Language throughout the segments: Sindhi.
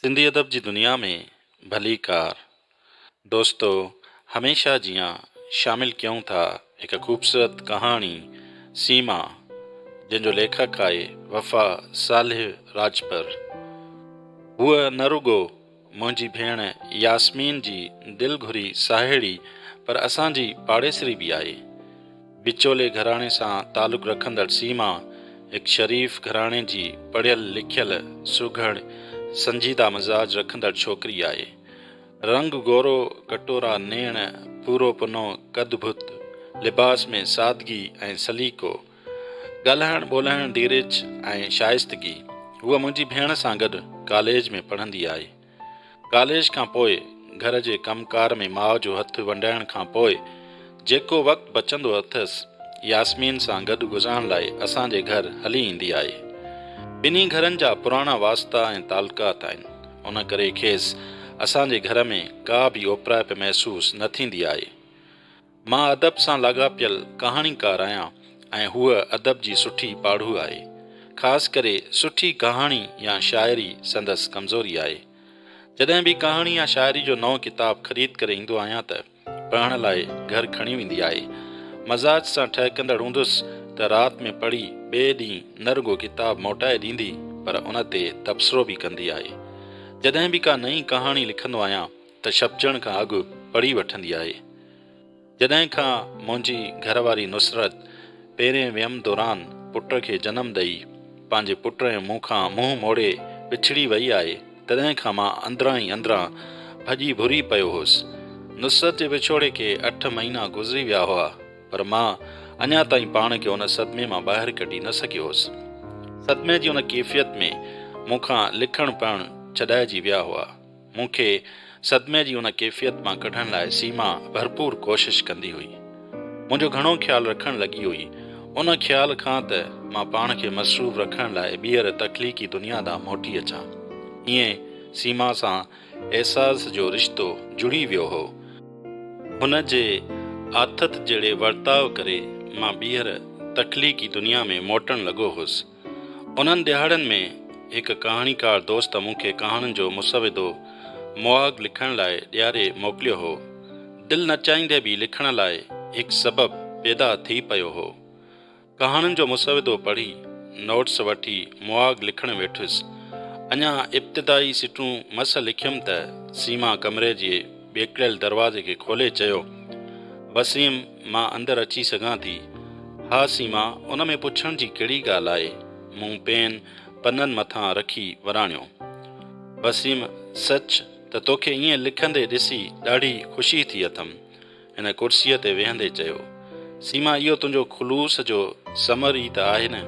سنڌي ادب جي دنيا ۾ ڀليڪار دوستو هميشه جيان شامل ڪيون ٿا هڪ خوبصورت ڪهاڻي سيما جنهن جو ليکڪ آهي وفا صالح راڄپر هوء نه رڳو منهنجي ڀيڻ ياسمين جي دل گهري ساهيڙي پر اسان جي پاڙيسري به آهي. وچولي گهراڻي سان تعلق رکندڙ سيما هڪ شريف گهراڻي جي پڙهيل لکيل، سگهڙ، سنجيده مزاج رکندڙ ڇوڪري آهي. رنگ گورو، ڪٽورا نيڻ، پورو پنو قد ڀت، لباس ۾ سادگي ۽ سليقو. ڳالهائڻ ٻولهائڻ ڌيرج ۽ شائستگي هوء منهنجي ڀيڻ سان گڏ ڪاليج ۾ پڙهندي آئي. ڪاليج کان پوء گهر جي ڪم ڪار ۾ ماء جو هٿ ونڊائڻ کان پوء جيڪو وقت بچندو اٿس ياسمين سان گڏ گذارڻ لاء اسان جي گهر هلي ايندي آهي. ٻنهي گهرن جا پراڻا واسطا ۽ تعلقات آهن ان ڪري کيس اسان جي گهر ۾ ڪا به اوپرائپ محسوس نه ٿيندي آهي. مان ادب سان لاڳاپيل ڪهاڻيڪار آهيان ۽ هوء ادب جي سٺي پاڙهو آهي. خاص ڪري سٺي ڪهاڻي يا شاعري سندس ڪمزوري آهي. جڏهن به ڪهاڻي يا شاعري جو نئون ڪتاب خريد ڪري ايندو آهيان ته پڙهڻ لاء گهر کڻي ويندي آهي. مزاج سان ٺهڪندڙ هوندس ته رات ۾ پڙهي ٻئي ڏينهن نه رڳو ڪتاب موٽائي ڏيندي پر ان تي تبصرو به ڪندي آهي. جڏهن به ڪا نئين ڪهاڻي لکندو آهيان ته ڇپجڻ کان اڳ پڙهي وٺندي آهي. جڏهن کان منهنجي گهر واري نصرت پيرين ويم دوران پٽ کي جنم ڏئي پنهنجي پٽ ۽ مون کان منهن موڙي وڇڙي وئي آهي تڏهن کان مان اندران ئي اندران ڀڄي ڀري پيو هوس. نصرت جي وڇوڙي کي اٺ مهينا گذري ويا هئا پر مان اڃا تائين پاڻ کي ان صدمي مان ٻاهر ڪڍي نه سگهيو هوس. صدمي جي ان ڪيفيت ۾ مون کان لکڻ پڙهڻ ڇڏائجي ويا هئا. مون کي صدمي جي ان ڪيفيت مان ڪڍڻ لاء سيما ڀرپور ڪوشش ڪندي هئي. منهنجو گهڻو خيال رکڻ لڳي هئي. ان خيال کان ته مان پاڻ کي مصروف رکڻ لاء ٻيهر تخليقي دنيا ڏانهن موٽي اچان. ايئن سيما سان احساس جو رشتو جڙي ويو هو. هن جي آٿت جهڙي ورتاء ڪري مان ٻيهر تخليقي دنيا ۾ موٽڻ لڳو هوس. انهن ڏهاڙن ۾ هڪ ڪهاڻيڪار دوست مون کي ڪهاڻين جو مسودو مهاڳ لکڻ لاء ڏياري موڪليو هو. دل نه چاهيندي به لکڻ لاء هڪ سبب پيدا ٿي پيو هو. ڪهاڻين جو مسودو پڙهي، نوٽس وٺي مهاڳ لکڻ ويٺس. اڃا ابتدائي سٽون مس لکيم ته سيما ڪمري جي ٻيڪڙيل دروازي کي کولي چيو، وسيم! مان اندر اچي سگهان ٿي؟ ها سيما، ان ۾ پڇڻ جي ڪهڙي ڳالهه آهي. مون پين پنن مٿان رکي وراڻيو. وسيم، سچ ته توکي ائين لکندي ڏسي ڏاڍي خوشي ٿي اٿم. هن ڪرسيء تي ويهندي چيو. سيما، اهو تنهنجو خلوص جو ثمر ئي ته آهي نه.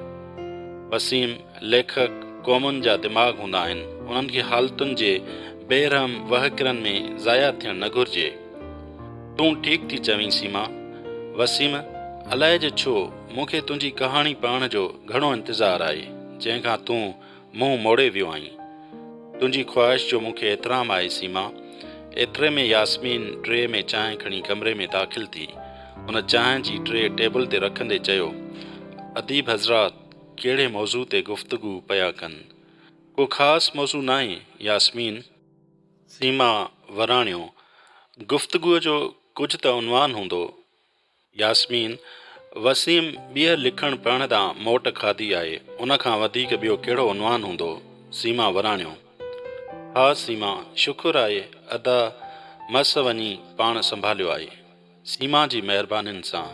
وسيم، ليکڪ قومن جا دماغ هوندا آهن. انهن کي حالتن جي بي رحم وهڪرن ۾ ضايع ٿيڻ نه گهرجي. تون ٺيڪ ٿي چوين سيما. وسيم، الائي جو ڇو مون کي تنهنجي ڪهاڻي پڙهڻ جو گهڻو انتظار آهي، جنهن کان تون منهن موڙي ويو آهين. تنهنجي خواهش جو مون کي احترام آهي سيما. ايتري ۾ ياسمين ٽري ۾ چانهه کڻي ڪمري ۾ داخل ٿي. هن چانهه جي ٽري ٽيبل تي رکندي چيو، اديب حضرات ڪهڙي موضوع تي گفتگو پيا ڪن؟ ڪو خاص موضوع ناهي ياسمين. سيما وراڻيو، گفتگوء جو ڪجهه ته عنوان هوندو. ياسمين، وسيم ٻيهر لکڻ پڙهڻ تان موٽ کاڌي آهي، ان کان وڌيڪ ٻيو ڪهڙو عنوان هوندو؟ سيما وراڻيو، ها سيما، شڪر آهي ادا مس وڃي پاڻ سنڀاليو آهي. سيما جي مهربانين سان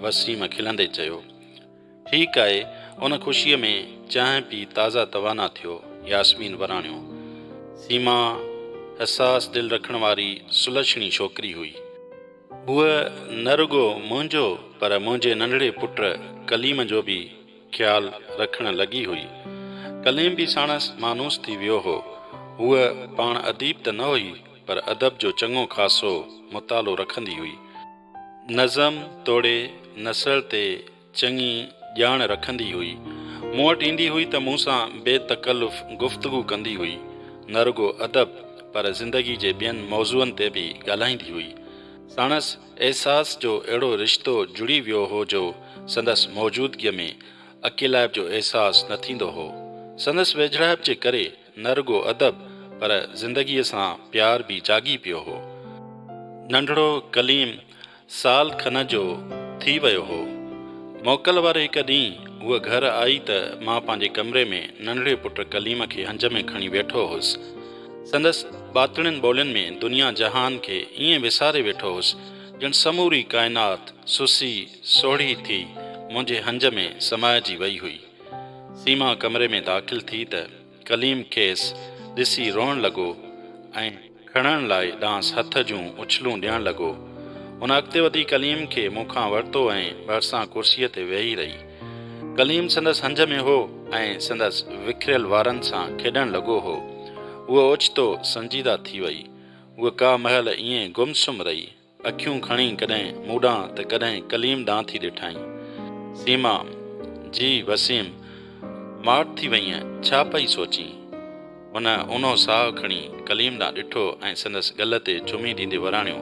وسيم کلندي چيو. ٺيڪ آهي ان خوشيء ۾ چانهه پي تازه توانا ٿيو ياسمين وراڻيو. سيما حساس دل رکڻ واري سلڇڻي ڇوڪري هئي. هوء نه رڳو منهنجو پر منهنجي ننڍڙي پٽ ڪليم جو به خيال رکڻ لڳي هئي. ڪليم به ساڻس مانوس ٿي ويو هو. هوء پاڻ اديب ته نه هئي پر ادب جو چڱو خاصو مطالعو رکندي هئي. نظم توڙي نثر تي چڱي ڄاڻ رکندي هئي. مون وٽ ايندي هئي ته مون سان بي تڪلف گفتگو ڪندي هئي. نه رڳو ادب پر زندگي جي ٻين موضوعن تي به ڳالهائيندي هئي. ساڻس احساس جو اهڙو رشتو جڙي ويو هو جو سندس موجودگيء ۾ اڪيلائپ جو احساس نه ٿيندو هو. سندس ويجهڙائپ جي ڪري نه رڳو ادب پر زندگيء سان پيار به جاڳي پيو هو. ننڍڙو ڪليم سال کن جو ٿي ويو هو. موڪل واري هڪ ڏينهن هوء گهر آئي ته مان پنهنجي ڪمري ۾ ننڍڙي پٽ ڪليم کي هنج ۾ کڻي ويٺو هوس. سندس ٻاتڙين ٻولين ۾ دنيا جهان کي ائين وساري ويٺو هوس، ڄڻ سموري ڪائنات سسي سوڙهي ٿي منهنجي هنج ۾ سمائجي وئي هئي. سيما ڪمري ۾ داخل ٿي ته ڪليم کيس ڏسي روئڻ لڳو ۽ کڻڻ لاء ڏانهس هٿ جون اڇلون ڏيڻ لڳو. هن اڳتي وڌي ڪليم کي مون کان ورتو ۽ ڀرسان ڪرسيء تي ويهي رهي. ڪليم سندس هنج ۾ هو ۽ سندس وکريل وارن سان کيڏڻ لڳو هو. هوء اوچتو سنجيده ٿي وئي. هوء ڪا مهل ائين گم سم رهي. اکيون کڻي ڪڏهن مون ڏانهن ته ڪڏهن ڪليم ڏانهن ٿي ڏٺائين. سيما، جي وسيم، ماٺ ٿي وئينء، ڇا پئي سوچين؟ هن اونهو ساهه کڻي ڪليم ڏانهن ڏٺو ۽ سندس ڳل تي چمي ڏيندي وراڻيو،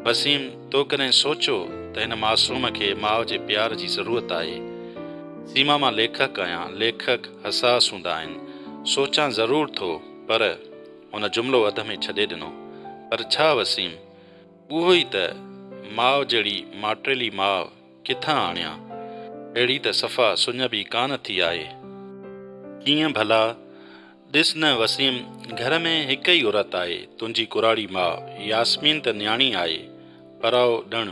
وسيم، تو ڪڏهن سوچيو ته هن معصوم کي ماء جي پيار جي ضرورت آهي؟ سيما، مان ليکڪ آهيان، ليکڪ حساس هوندا آهن، سوچان ضرور ٿو، پر. هن جملو اڌ ۾ ڇڏي ڏنو. پر ڇا وسيم؟ اهو ئي ته ماء جهڙي ماٽيلي ماء ڪٿان آڻيان، اهڙي ته صفا سڃڀ ئي ڪانه ٿي آهي. ڪيئن ڀلا؟ ڏس نه وسيم، گهر ۾ هڪ ئي عورت آهي، تنهنجي ڪراڙي ماء ياسمين ته نياڻي آهي، پرائو ڏڻ،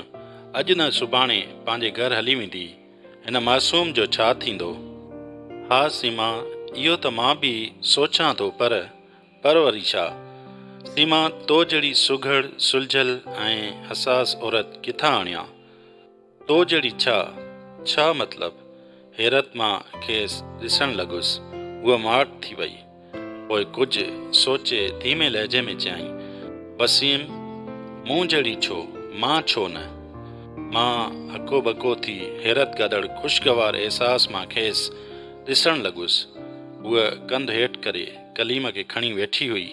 اڄ نه سڀاڻي پنهنجي گهر هلي ويندي، هن معصوم جو ڇا ٿيندو؟ ها سيما، اهو ته مان به سوچان ٿو پر پروري شاهه، سيما تو جهڙي سگهڙ، سلجهيل ۽ حساس عورت ڪٿان آڻيان؟ تو جهڙي ڇا؟ ڇا مطلب؟ حيرت مان کيس ڏسڻ لڳس. هوء ماٺ ٿي وئي. پوء ڪجهه سوچي ڌيمي لهجي ۾ چيائين، وسيم! مون جهڙي ڇو؟ مان ڇو نه؟ مان هڪو ٻڪو ٿي حيرت گڏڙ خوشگوار احساس مان کيس ڏسڻ لڳس. هوء ڪنڌ هيٺ ڪري. ڪليم کي کڻي ويٺي هئي.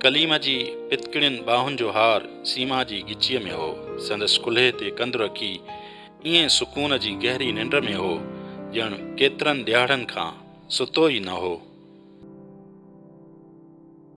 ڪليم جي پتڪڙين ٻانهن جو هار سيما جي ڳچيء ۾ هو. سندس ڪلهي تي ڪنڌ رکي ائين سڪون جي گهري ننڊ ۾ هو، ڄڻ ڪيترن ڏيهاڙن کان ستو ئي نه هو.